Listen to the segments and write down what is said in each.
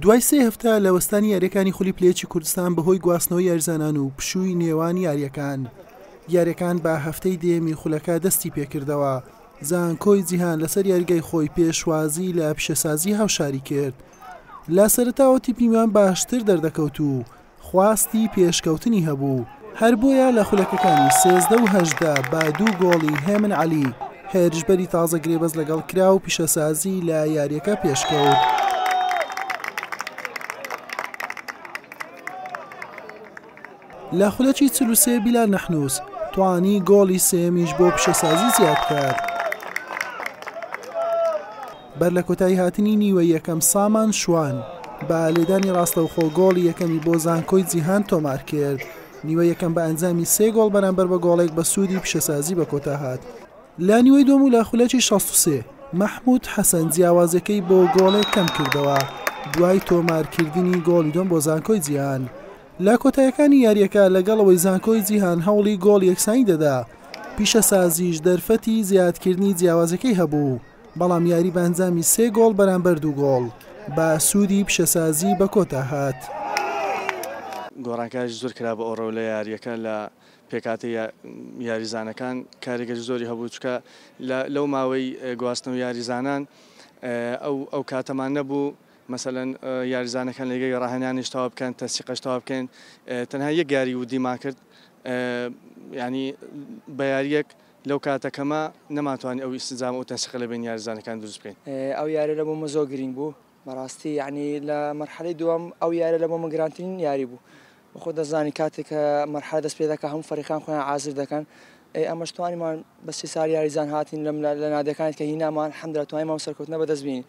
دوای سێ هەفتە لە وەستانی یاریەکانی خولی پلێچی کوردستان بەهۆی گواستنەوە یارزانان و پشووی نێوان یاریەکان یاریەکان بە هەفتەی دێمی خولەکە دەستی پێکردەوە زانکۆی جیهان لەسەر یاریگای خۆی پێشوازی لە پیشەسازی هاوشاری کرد لە سەرتاوە تیپیمان باشتر دەردەکەوت و خواستی پێشکەوتنی هەبوو، هەر بۆیە لە خولەکەکانی سێزدە و هەژدە بە دوو گۆڵی هێمن عەلی، هێرشبەری تازە گرێبەست لەگەڵ کرا و پیشەسازی لە یارییەکە پێشکەوت. لە خولەکی چل و سێ بیلال نەحنووس توانی گۆڵی سێیەمیش بۆ پیشەسازی زیاد بکات. بەر لە کۆتاییهاتنی نیوە یەکەم سامان شوان بە لێدانی ڕاستەوخۆ گۆڵی یەکەمی بۆ زانکۆی جیهان تۆمارکرد، نیوە یەکەم بە ئەنجامی سێ گۆڵ بەرامبەر بە گۆڵێک بە سوودی پیشەسازی بە کۆتا هات. لە نیوەی دووەم و لە خولەکی شەست و سێ مەحمود حەسەن جیاوازیەکەی بۆ گۆڵێک کەمکردەوە دوای تۆمارکردنی گۆڵی دووەم بۆ زانکۆی جیهان لە کۆتایەکانی یاریەکە لەگەڵ ئەوەی زانکۆی جیهان هەوڵی گۆڵ یەکسانی دەدا پیشەسازیش دەرفەتی زیادکردنی جیاوازیەکەی هەبوو. بەڵام یاری بە ئەنجامی سێ گۆڵ بەرامبەر دوو گۆڵ بە سوودی پیشەسازی بە کۆتا هات. گۆڕانکاریی زۆر کرا بە ئۆڕۆ لە یارییەکە، لە پێکهاتەی یاریزانەکان کاریگەری زۆری هەبوو، چونکە لەو ماوەی گواستنەوەی یاریزانان ئەو ئەو کاتەمان نەبوو مەسەلەن یاریزانەکان لە لیگەی ڕاهێنانیش تەواو بکەن، تەنسیقەش تەواو بکەین، تەنها یەک یاری ودیمان کرد یانی بە یارییەک لەو کاتە کەمە نەمانتوانی ئەو ئیستجام ئەو تەنسیقە لە بەین یارزانەکان دروست بکەین. ئەو یارە لە بۆ من زۆر گرینگ بوو بەڕاستی یعنی لە مەرحەلەی دووەم ئەو یارە لە بۆ من گرانترین یاری بوو وەخۆ دەزانی کاتێک کە مەرحەلە دەست پێ دەکە هەموو فەریقان خۆیان عازر دەکەن ئەی ئەمەش توانیمان بە سێ سار یاریزان هاتین لەم لە نادەکانت کە هینامان حەمدرا توانیمان سەرکەوتنە بەدەست بین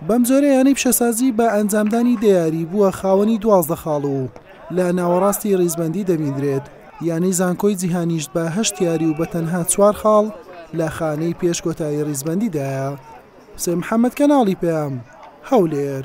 بەمجۆرە یانەی پیشەسازی بە ئەنجامدانی دە یاری بووە خاوەنی دوازدە خاڵ و لە ناوەڕاستی ریزبەندی دەبیندرێت، یانەی زانکۆی جیهانیش بە هەشت یاری و بە تەنها چوار خاڵ لە خانەی پێش کۆتایی ریزبەندیدایە. حوسێن محەمەد کەناڵی پەیام، هەولێر.